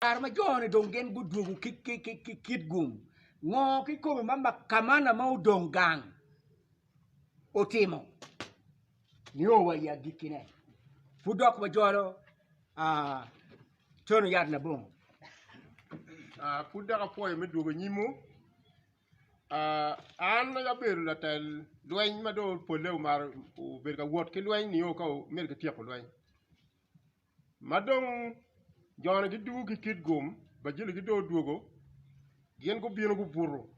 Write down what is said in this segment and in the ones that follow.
Kare ma jo-ni dong gin gudwogo ki Kitgum, ngo kikome ma Kamana ma odong gang otimo nio wa i agikkine? Pud dok wajolo tono yat labongo. Pud dok apwoyo me dwogo anyimwu. An ma abedo latel lweny ma dong polle omaro obedo ka wot ki lweny nio ka omedo ki tyeko lweny. Ma dong jone gidugo ki Kidgum, bajiligi dong odwogo, gin gubino gubuto.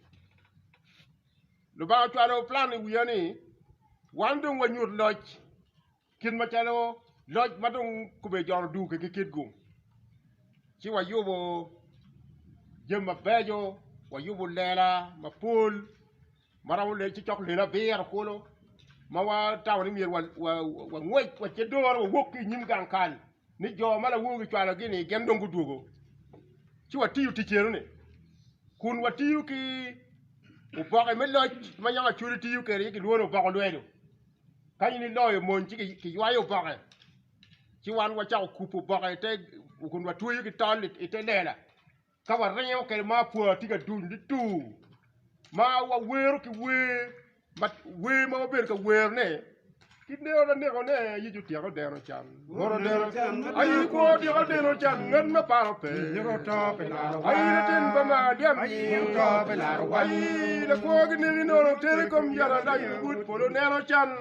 Lubanga ocwalo plan i wiya ni wan dong wanyut loc kit macalo loc ma dong kobedo jone odugo ki ki Kidgum, ci wayubo jami mabeco, wayubo lela mapol Marwamo lel ci cok lel abiro kulu ma watamo ni myero wangwec wace doro wawok ki i nyim gang kal ni jo ma lawogi cwalogi-ni gin dong gudwogo ci watiyo tic eno-ni kun watiyo ki oboke me loc ma yam Acholi tiyo kwede ci kilwongo ni oboko lwedo ka in iloyo mony ci kiywayo oboke ci wan wacako kubo oboke kun watweyo ki tol i te lela. Ka waringo kede ma apwa tye ka duny nitur ma wawero ki wer ma wer ma wabedo ka werone ki neko na nekone Yecu otyeko deno can bot odeno can aye kwo otyeko deno can ngat ma paro pe nyiko to pe laro aye latin pa ma dyam nyiko to pe laro aye lakwo ki neki nono teri kom yara dai but polo neno can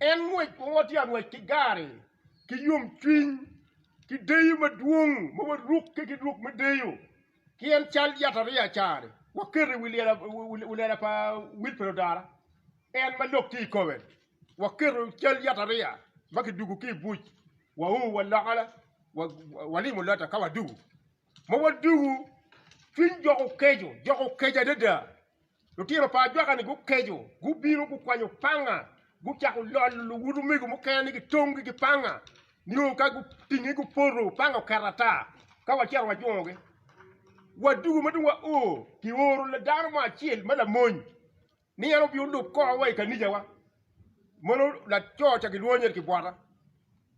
En ngwec ma watye ka ngwec ki gari ki yomcwiny ki deyo madwong ma warukke ki ruk me deyo ki en cal yatariya ca-ni. Waketo i wi lela pa Wil Pero Dara, en ma lok tye i kome. Waketo cal yatariya ma kidwogo ki i buc, wau wa loka walimo lotta ka wadwogo. Ma wadwogo, cwiny jok okeco, jok okeco adada. Lutino pa ajwaka-ni gukeco, gubino gukwanyo panga, gucako lolo luwud omego mukene ni gitonggi ki panga, nio ka gutinge gupoto, panga oket ata. Ka wacito wajwongogi, wadwogo ma dong wao, kioro dano mo acel ma lamony ni en obin olub kor wa i kanicawa. Mono laco ca gilwongo nyeri Kibwata,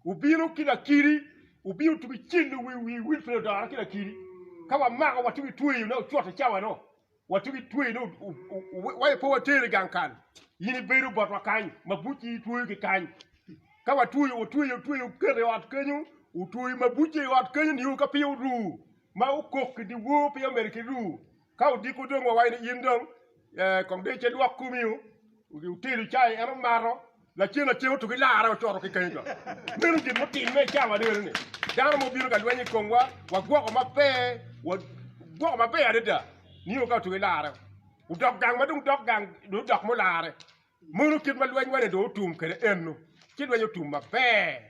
obino ki lakiri, obino otugo icel i wi wil piny odore ki lakiri, ka wamako watye ki tweyo ne ocuto i cawa-nu. Watugo i tweyo ni waye pe water i gang kal, in ibedo botwa kany ma bucci itweyo ki kany. Ka watweyo, watweyo, watweyo, oketo i ot kenyo, otweyo ma bucci i ot kenyo nio ka peya oru ma okok ki dyewor peya omedo ki ru. Ka odiko dong wa waye ni in dong kong dong icelwok komi o, otelo cai en omato. Lacen acen otugo i larre ocoto ki kany ka. Meno gin mutimme i cawa adadani. Dano mo obino ka lweny i komwa, wagwoko maber, wagwoko maber adada. Nio ka otugo i larre, odok gang ma dong dok gang, dong odok mo larre. Meno kit ma lwenywa-ni dong otum kwede eno, ci lweny otum maber.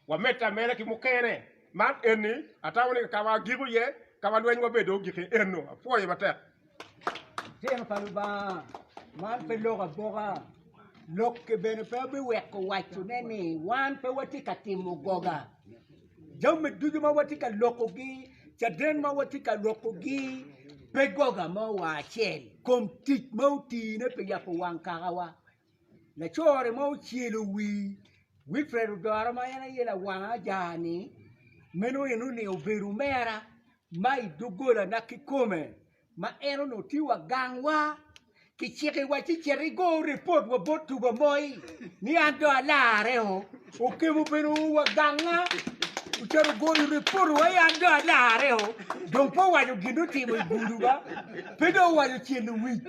Wamedde ameda ki mukene. Man eni, atamo ni ka ma agiko iye, ka ma lwenywa bene dong ogik iye eno. Apwoyo matek. Tito pa Lubanga man pe lok aboka, lokke bene pe biweko wacone ni wan pe watye ka timo goga. Jami ducu ma watye ka lokogi, caden ma watye ka lokogi pe goga mo wa acel kom tic ma otine pi yabo wang kakawa. Laco-ri ma ocelo wii Wilfred Odoro ma en aye lawang aja-ni meno eno ni obedo omera ma i dogolana kikome ma en onongo tye wa gangwa kicikiwa ci cet igo ripot wa bot tugo moi ni an dong alareo, Okemo bene oo wa ganga ocito ogoyo ripot wa ni an dong alareo dong pe owaco gin dong otimo i guduwa pe dong owaco cel i wic.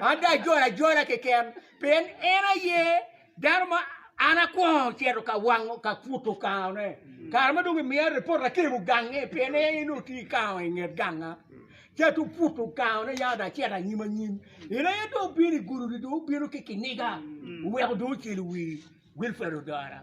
An dong ajolo ajola keken, pien en aye dano ma an akwongo cito ka wango ka puto kangone. Kare ma dong imiya ripot akemo gange, pien en aye nongo tye ki kango i nget ganga. Ci atu puto kangone ya dong acito anyim anyim. In aye dong obino i gudi-ni dong obino ki kiniga, oweko dong ocelo wii Wilfred Odora.